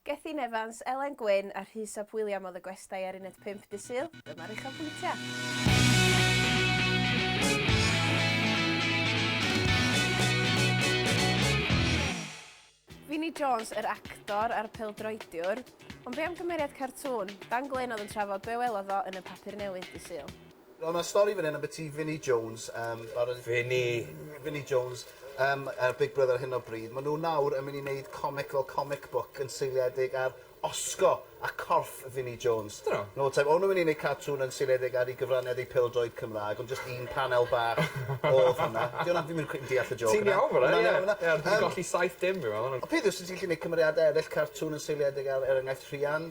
Gethin Evans, Elen Gwyn a Rhys ap William oedd y gwestai ar uned pump Dydd Sul, dyma'r uchafbwyntiau. Vinnie Jones, yr actor a'r pêl-droediwr. Ond be am gymeriad cartŵn? Dan Glyn oedd yn trafod be welodd o yn y papur newydd Dydd Sul. Nawr ma' stori fan 'yn ambyti Vinnie Jones yym fel o'n i... Vinnie! ...Vinnie Jones yym yy Big Brother ar hyn o bryd. Ma' nw nawr yn myn' i neud comic fel comic book yn seiliedig ar osgo a corff Vinnie Jones. Ydyn nw? Nôl te. O'n nw'n myn' i neud cartŵn yn seiliedig ar 'i gyfraniad ei pêl-droed Cymra'g ond jyst un panel bach odd hwnna. 'Di wnna fi'm yn cweit yn deall y jôc yna. Ti'n iawn fan 'na ie. Ie ond dwi'n golli saith dim fi me'wl. Y peth yw os wt ti'n gallu neud cymeriade eryll cartŵn yn seiliedig ar er enghraifft Rhian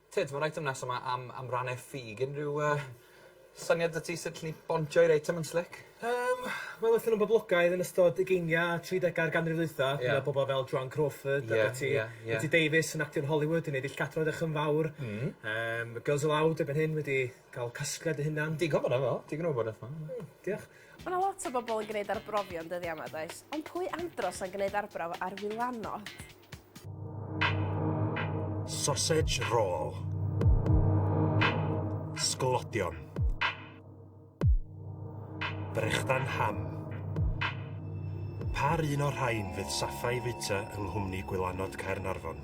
Tyd, mae'r eitem nesaf yma am, am rannau ffug. Unrhyw uh, syniad dy ti sut llen ni bontio i'r eitem yn slic? Um, Wel, oedden nhw'n boblogaidd yn ystod ugeiniau a 30au'r ganrif ddwytha. Yeah. Mae bobl fel Joan Crawford yeah, a Betty, yeah, yeah. Betty Davis yn actio'n Hollywood yn ei ddull cadro edrych yn fawr. Mm. Um, Girls Aloud erbyn hyn wedi cael casgliad y hynna'n... Digon bod efo, digon o wybodaeth yma. Mm, diolch. Mae yna lot o bobl yn gwneud arbrofion dyddiau yma, does? Ond pwy andros yn gwneud arbrawf ar wylanod? Sausage roll. Sglodion. Brechdan ham. Par un o'r rhain fydd Safai Vita yng Nghwmni Gwylanod Caernarfon.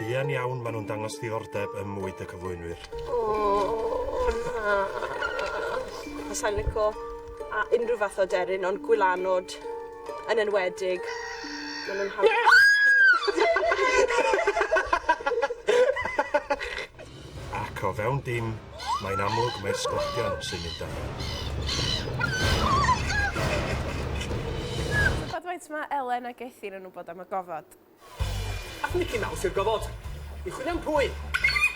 Buan iawn maen nhw'n dangos ddiddordeb ym mwyd y cyflwynwyr. O, na! Fasai'n lico a- unrhyw fath o aderyn ond gwylanod yn enwedig. Ma' nw'n hawdd... Ac o fewn dim, mae'n amlwg mai'r sglodion sy'n mynd â hi. Tybed faint mae Elen a Gethin yn wybod am y gofod? Ath Mici Maws i'r gofod. I chwilio am pwy?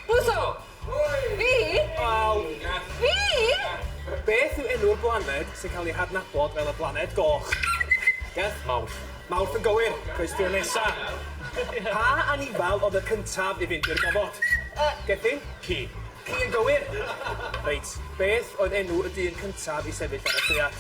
Cluso! Pwy? Fi! Wel... Ia. Fi! Ia. Beth yw enw'r blaned sy'n cael ei hadnabod fel y Blaned Goch? Ia? Mawrth. Mawrth yn gywir. Cwestiwn nesa. Pa anifail oedd y cyntaf i fynd i'r gofod? Yy. Gethin? Ci. Ci yn gywir. Reit, beth oedd enw y dyn cyntaf i sefyll ar y lleuad?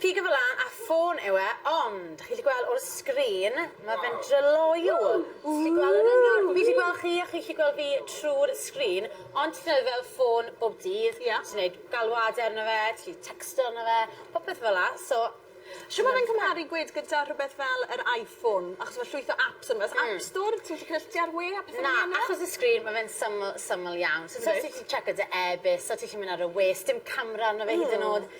Ffigur fel 'a a ffôn yw e ond chi 'llu gweld o'r sgrin ma' fe'n dryloyw. Ww! Chi gweld yn union fi 'llu gweld chi a chi 'llu gweld fi trw'r sgrin ond ti'n defnyddio fel ffôn bob dydd. Ia. Ti'n neud galwade arno fe ti 'llu tecsto arno fe popeth fel 'a so Shw ma' fe'n cymharu gwed gyda rhwbeth fel yr Iphone achos ma' llwyth o aps arno fe o's app store ti'n gallu cysylltu ar we a pethe fel 'ny arno fe? Na achos y sgrin ma' fe'n syml syml iawn. Reit. So ti 'llu checo dy e-byst so ti 'llu myn' ar y we sdim camra arno fe hyd yn o'd.